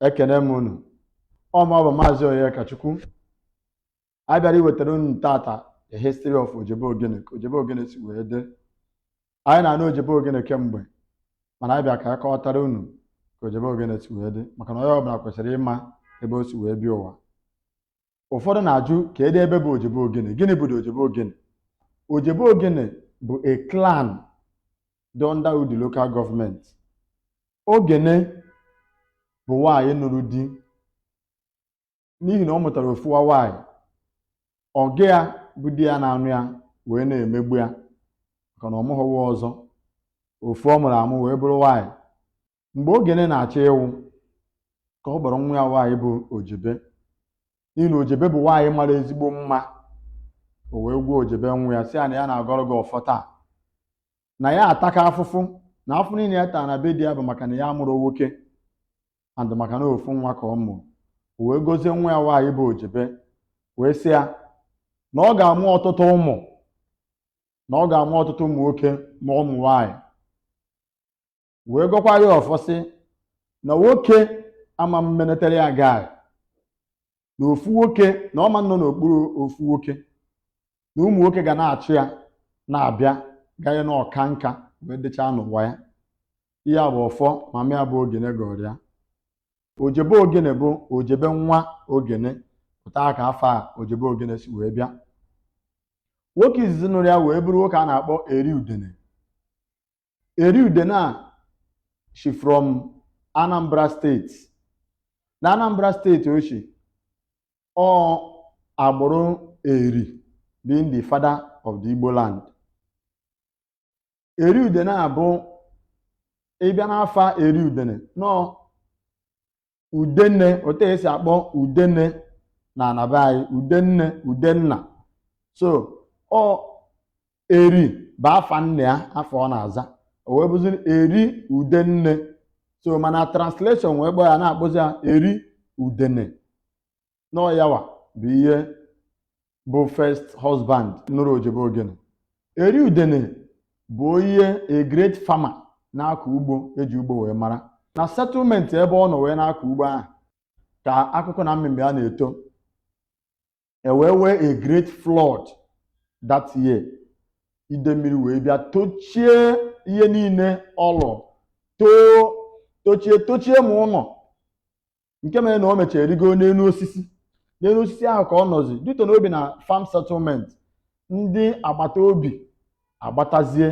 ekene m unu ọ mụwa bụ maazị Onyekachukwu anyị bịara iwetara unu taata the history of Ojebe Ogene ka Ojebe Ogene si wee dị anyị na-anụ Ojebe Ogene kemgbe mana anyị bịa ka anyị kọwatara unu ka Ojebe Ogene si wee dị maka na onye ọbụla kwesịrị ịma ebe o si wee bịa ụwa ụfọdụ na-ajụ kedu ebe bụ ojebe ogene gịnị bụ ojebe ogene ojebe ogene bụ a clan dị under Udi local government ogene bụ nwaanyị nụrụ di n'ihi na ọ mụtara ofu nwa nwaanyị ọga ya bụ di ya na-anụ ya wee na-emegbu ya maka na ọ mụghọ nwa ọzọ ofu ọ mụrụ amụ wee bụrụ nwaanyị mgbe ogene na-achọ ịwụ ka ọ kpọrọ nwa ya nwaanyị bụ ojebe n'ihi na ojebe bụ nwaanyị mara ezigbo mma o wee gwa ojebe nwa ya sị ya na ya na-agọrọ gị ọfọ taa na ya ataka afụfụ na afụfụ niile ya taa na be di ya bụ maka na ya amụrọ nwoke and maka na ofu nwa ka ọ mụrụ o wee gozie nwa ya nwaanyị bụ ojebe wee sị ya na ọ ga-amụ ọtụtụ ụmụ na ọ ga-amụ ọtụtụ ụmụ nwoke ma ụmụ nwaanyị wee gọkwara ya ọfọ sị na nwoke ama mmenetere ya gaa na ofu nwoke na ọ ma nọ n'okpuru ofu nwoke na ụmụ nwoke ga na-achụ ya na-abịa ganye na ọ kaa nka wee dịchaa n'ụwa ya ihe a bụ ọfọ mama ya bụ ogene gọọrọ ya ojebe ogene bụ ojebe nwa ogene otu a ka afa ojebe ogene si wee bịa nwoke izizi nụrụ ya wee bụrụ nwoke a na-akpọ eri udene Eri Udene a shi from Anambra State na Anambra State o shi ọ agbụrụ Eri being the father of the Igbo land Eri Udene a bụ ị bịa n'afa Eri Udene nọọ udenne otu e si akpọ udene na ana be anyị ude nne ude nna so ọ eri bụ afa nna ya afa ọ na-aza o wee bụzi eri udenne so mana translation wee kpọọ ya na-akpọzi ya eri udene na ọ yawa bụ onye bụ first husband nụrụ ojebe ogene eri udene bụ onye a great farmer na-akọ ugbo e ji ugbo wee mara na settlement ebe ọ nọ wee na-akọ ugbo ahụ ka akụkụ na mmemme ya na-eto e wee nwee a great flood that year ide mmiri wee bịa tochie ihe niile ọlụ too tochie tochie ma ụlọ nke mere na o mechara rigo n'elu osisi n'elu osisi ahụ ka ọ nọzi dute n'obi na farm settlement ndị agbata obi agbatazie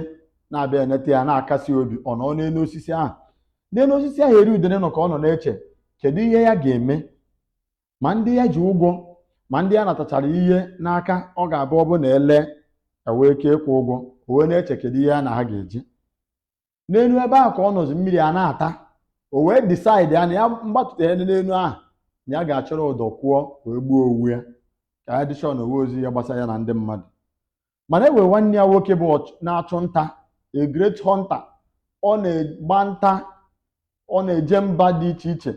na-abịa eneta ya na-akasi obi ọ nọ n'elu osisi ahụ n'elu osisi ahụ eri udene nọ ka ọ nọ na-eche kedu ihe ya ga-eme ma ndị ya ji ụgwọ ma ndị ya natachara ihe n'aka ọ ga-abụ ọ bụ na ele ewee ike ịkwụ ụgwọ o wee na-eche kedu ihe ya na ha ga-eji n'elu ebe ahụ ka ọ nọzi mmiri a na-ata o wee decide ya na ya mgbatụta ya n'elu ahụ na ya ga-achọrọ ụdọ kwụọ wee gbuo onwe ya ka ya dịchọọ na o wezi ihe gbasara ya na ndị mmadụ mana e wee nwanne ya nwoke bụ ọch- na-achụ nta a great hunter ọ na-agba nta ọ na-eje mba dị iche iche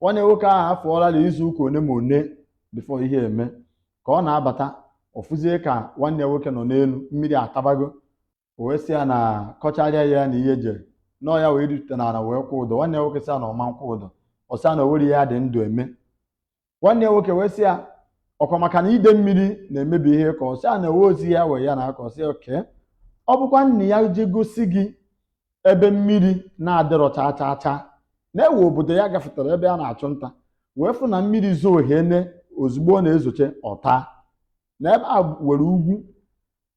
nwanne nwoke ahụ afụọla na izu ụka one ma one before ihe eme ka ọ na-abata ọ fụzie ka nwanne ya nwoke nọ n'elu mmiri atabago o wee sị ya na kọcharịa ya na ihe jere na ọ ya wee rute n'ala wee kwụ ụdọ nwanne ya nwoke sị ya na ọ ma nkwụ ụdọ ọ sị ya na o nwere ihe ya dị ndụ eme nwanne ya nwoke wee sị ya ọ kwa maka na ide mmiri na-emebi ihe ka ọ sị ya na ewe ozi ya wee ya na aka ọ sị ya okay ọ bụkwa na ya je gosi gị ebe mmiri na-adịrọ chaa chaa chaa na e we obodo ya gafetara ebe a na-achụ nta wee fụ na mmiri zoo hene ozugbo ọ na-ezoche ọ taa na ebe a were ugwu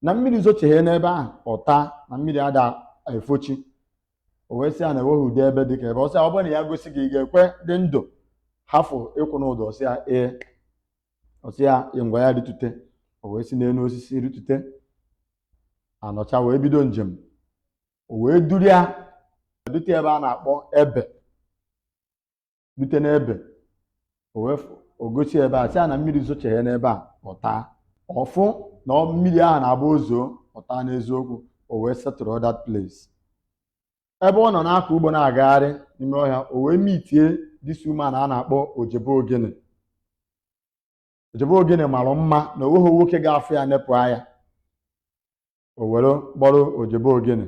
na mmiri zocheghe n'ebe ahụ ọ taa na mmiri ada efochi o wee sị ya na enweghị ụdị ebe dị ka ebe ọ sị ya ọ bụrụ na ya gosi gị ị ga-ekwe dị ndụ hafụ ịkwụ n'ụdọ ọ sị ya ee ọ sị ya ngwa ya ritute o wee si n'elu osisi ritute a nọcha wee bido njem o wee duru ya dute ebe a na-akpọ ebe dute n'ebe o wee fụ- o gosi ebe a sị ya na mmiri zocheghe n'ebe a ọ taa ọ fụ na ọ- mmiri ahụ na-abụ o zoo ọ taa n'eziokwu o wee settle that place ebe ọ nọ na-akọ ugbo na-agagharị n'ime ọhịa o wee meetie this woman a na-akpọ ojebe ogene ojebe ogene mara mma na o nweghị nwoke ga-afụ ya nepụ anya o were kpọrọ ojebe ogene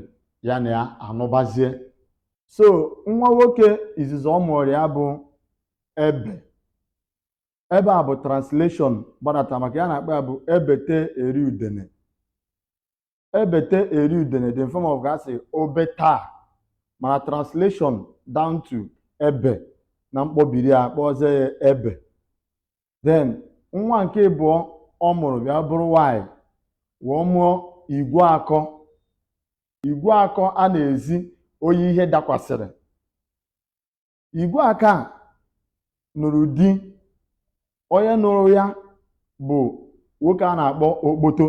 ya na ya anụbazie so nwa nwoke izizi ọ mụrụ ya bụ ebe ebe a bụ translation gbadata maka ihe a na-akpọ ya bụ ebete eri udene ebete eri udene dị in form of ka a sị obe taa mana translation down to ebe na mkpọbiri a kpọzie ya ebe then nwa nke ịbụọ ọ mụrụ bịa bụrụ nwanyị wee mụọ igwe akọ igwe akọ a na-ezi onye ihe dakwasịrị igwe akọ nụrụ di onye nụrụ ya bụ nwoke a na-akpọ okpoto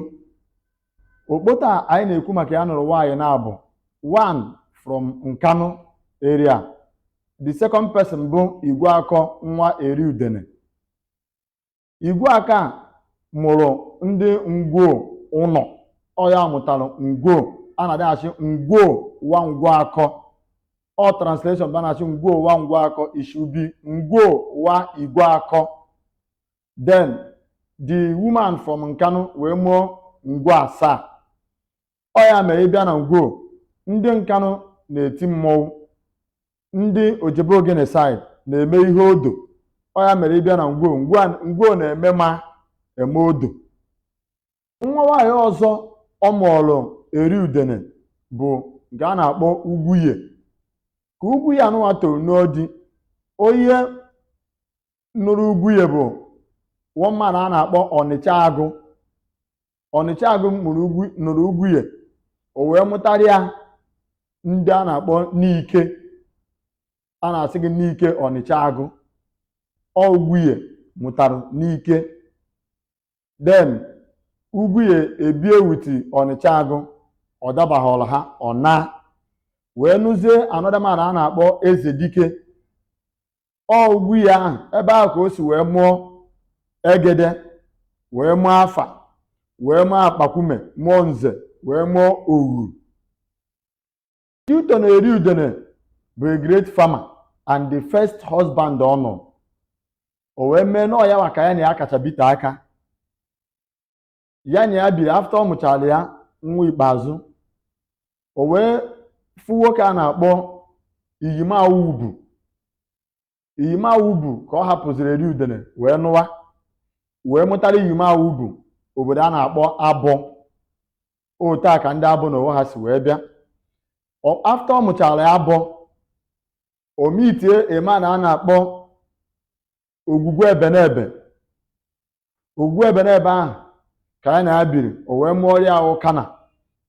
okpoto a anyị na-ekwu maka ya nụrụ nwaanyị naabọ one from Nkanu area the second person bụ Igweakọ nwa eri udene Igweakọ mụrụ ndị ngwo ụlọ ọ ya mụtara ngwo a na-adịghachi ngwo nwa ngwu akọ ọ translation banachi ngwo nwa ngwu akọ it should be ngwo nwa igwe akọ then the woman from Nkanu wee mụọ ngwo asaa ọ ya mere ị bịa na ngwo ndị Nkanu na-eti mmọnwụ ndị ojebe ogene side na-eme ihe odo ọ ya mere ị bịa na ngwo ngwo na-eme ma eme odo nwa nwaanyị ọzọ ọ mụọrụ eri udene bụ nke a na-akpọ ugwuye ka ugwuye anụnwa toro n'odi onye nụrụ ugwuye bụ one man a na-akpọ ọnịcha agụ ọnịcha agụ nụrụ ugwuye o wee mụtara ya ndị a na-akpọ Nike a na-asị gị Nike ọnịcha agụ ọ ugwuye mụtara Nike then ugwuye ebie wuti ọnịcha agụ ọ dabaghọrọ ha ọ naa wee nụzie another man a na-akpọ eze dike ọ ugwuye ahụ ebe ahụ ka o si wee mụọ egede wee mụọ afa wee mụọ akpakwume mụọ nze wee mụọ oghu note na eri udene bụ a great farmer and the first husband ọ nụ o wee mee na ọ ya nwa ka ya na ya kacha bite aka ya na ya biri after ọ mụchara ya nwa ikpeazụ o wee fụ nwoke a na-akpọ iyime awubu iyime awubu ka ọ hapụziri eri udene wee nụwa wee mụtara iyime awubu obodo a na-akpọ abọ otu a ka ndị abọ n'onwe ha si wee bịa after ọ mụchara ya abọ o meetie a man a na-akpọ ogwugwu ebenebe ogwugwu ebenebe ahụ ka ya na ya biri o wee mụọrị ya ụkana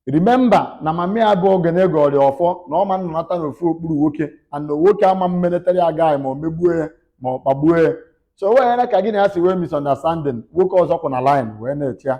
remember na mama ya bụ ogene gọọrị ya ọfọ na ọ ma nnọnata na ofu okpuru nwoke and nwoke ama mmeletara ya gaghị ma o megbue ya ma ọ kpagbuo ya so o weghara ka gị na ya si nwee misunderstanding nwoke ọzọ kwụ na line wee na-eche ya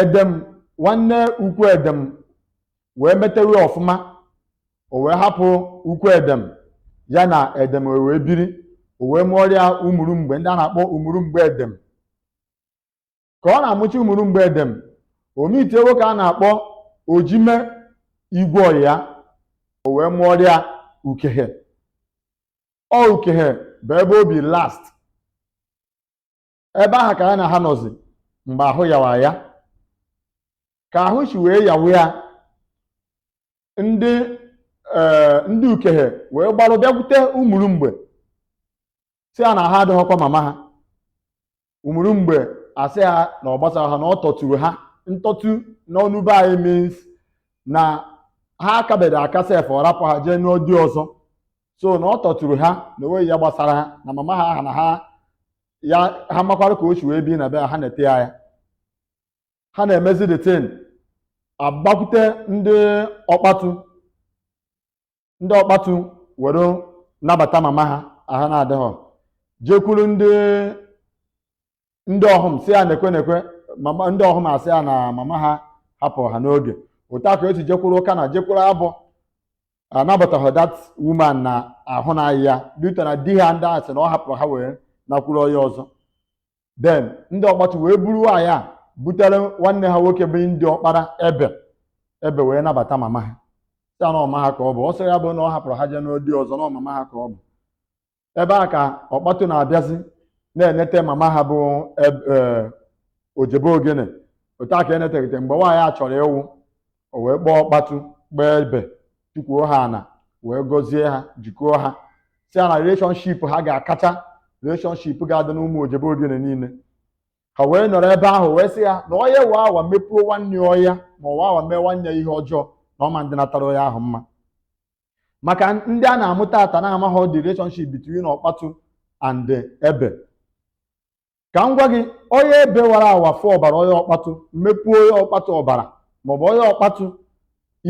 edem nwanne ukwu edem wee metewe ọfụma o wee hapụ ukwu edem ya na edem ewee biri o wee mụọrị ya umurumgbe ndị a na-akpọ umurumgbe edem ka ọ na-amụcha umurumgbe edem o meetie nwoke a na-akpọ ojime igweonyia o wee mụọrị ya ukehe ọ ukehe bụ ebe o bi last ebe ahụ ka ya na ha nọzi mgbe ahụ yawa ya ka ahụ si wee yawa ya ndị ee ndị ukehe wee gbarụ bịakwute ụmụrụmgbe sị ya na ahụ adịghọkwa mama ha ụmụrụmgbe asị ha na ọ gbasara ha na ọ tọturu ha ntọtu n'ọnụ be anyị means na ha akabere aka sef ọ rapụ ha jee nụọ di ọzọ so na ọ tọturu ha na o nweghị ihe gbasara ha na mama ha ahụ na ha ya ha makwara ka o si wee bi na be ha na-ete ya ya ha na-emezi the thing agbakwute ndị ọkpatu ndị ọkpatu were nabata mama ha ahụ na-adịghọ jekwuru ndị ndị ọhụm sị ya nekwe nekwe mama ndị ọhụm asị ya na mama ha hapụrụ ha n'oge otu a ka e si jekwuru ụkana jekwuru abọ anabataghị that woman na ahụ na-aya due to na di ha ndị a sị na ọ hapụrụ ha wee nakwuru onye ọzọ then ndị ọkpatu wee buru nwaanyị a butere nwanne ha nwoke bụ ndị ọkpara ebe ebe wee nabata mama ha sị na ọ mama ha ka ọ bụ ọ sị ya bụ na ọ hapụrụ ha jee nụọ di ọzọ na ọ mama ha ka ọ bụ ebe a ka ọkpatu na-abịazi na-enete mama ha bụ eb- eh, ojebe ogene otu a ka e netegide mgbe nwaanyị a chọrọ ịwụ o wee kpọọ ọkpatu kpọọ ebe tukwuo ha ana wee gọzie ha jikọọ ha sị ya na relationship ha ga-akacha relationship ga-adị n'ụmụ ojebe ogene niile ha wee nọrọ ebe ahụ wee sị ya na onye wa awa mepuo nwanne ọya ma ọ wa awa mee nwanne ya ihe ọjọọ na ọ ma ndịnatara onye ahụ mma maka ndị a na-amụta ata na-amaghị the relationship between ọkpatụ and ebe ka m gwa gị onye ebe wara awa fụ ọbara onye ọkpatụ mepu onye ọkpatụ ọbara maọbụ onye ọkpatụ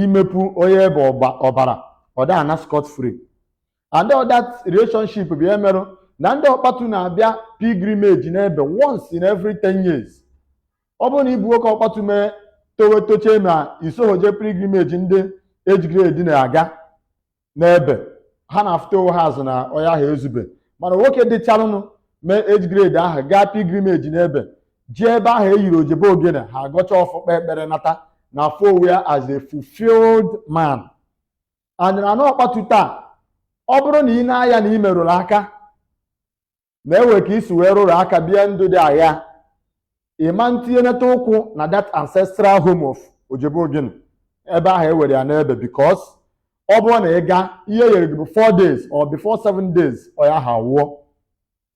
imepu onye ebe ọbara ọ da ana scot free and all that relationship bụ ihe merụ na ndị ọkpatu na-abịa pilgrimage n'ebe once in every 10 years ọ bụrụ na ị bụ nwoke ọkpatu mee towe tochee ma i soho je pilgrimage ndị age grade na-aga n'ebe ha na-afụta onwe ha as na onye ahụ ezube mana nwoke dịcharụnụ mee age grade ahụ gaa pilgrimage n'ebe jee ebe ahụ e yiri ojebe ogene ha agọcha ọfọ kpee ekpere nata na-afụ onwe ya as a fulfilled man and na ọkpatu taa ọ bụrụ na ị na-aya na ị merụrụ aka na e nwe ka i si wee rụrụ aka bie ndụ dị agha ị ma ntinyenata ụkwụ na that ancestral home of ojebe ogene ebe ahụ ewere ya n'ebe because ọ bụrụ na ị gaa ihe e yere gị bụ 4 days or before 7 days onye ahụ awụọ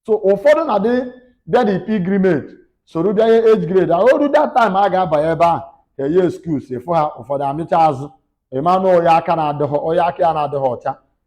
so ụfọdụ na-adị bịa the pilgrimage soro bịa ihe age grade ahụ o ruo that time a ga-abanye ebe ahụ enye excuse ị fụ ha ụfọdụ amịcha azụ ị manụ onye aka na-adịghị onye aka ya na-adịghị ọcha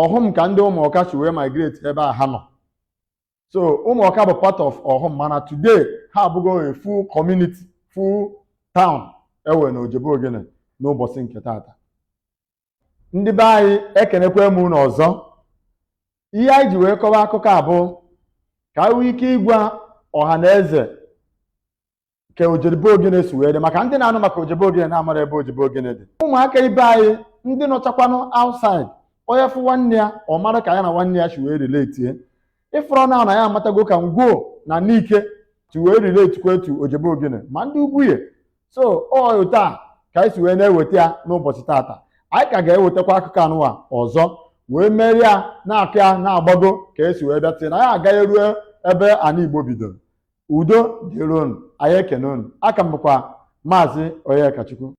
ọhụm ka ndị ụmụọka si wee migrate ebe a ha nọ so ụmụọka bụ part of ọhụm mana today ha abụgo a full community full town ewe na ojebe ogene n'ụbọchị nke taata ndị be anyị ekenekwa m unu ọzọ ihe anyị ji wee kọwa akụkọ a bụ ka anyị nwee ike ịgwa ọha na eze ka ojebe ogene si wee dị maka ndị na-anụ maka ojebe ogene na-amarọ ebe ojebe ogene dị ụmụaka ibe anyị ndị nọchakwanụ outside onye fụ nwanne ya ọ mara ka ya na nwanne ya si wee relate ị fụrụ na anyị amatago ka ngwo na nike si wee relatekwa to ojebe ogene ma ndị ugwunye so otu a ka anyị si wee na-eweta ya n'ụbọchị taata anyị ka ga-ewetakwa akụkọ anụwa ọzọ wee merie ya na-akọ ya na-agbago ka e si wee bịa till anyị agaruo ebe ana igbo bidoro udo dịrị unu anyị ekene unu aka m bụkwa maazị Onyekachukwu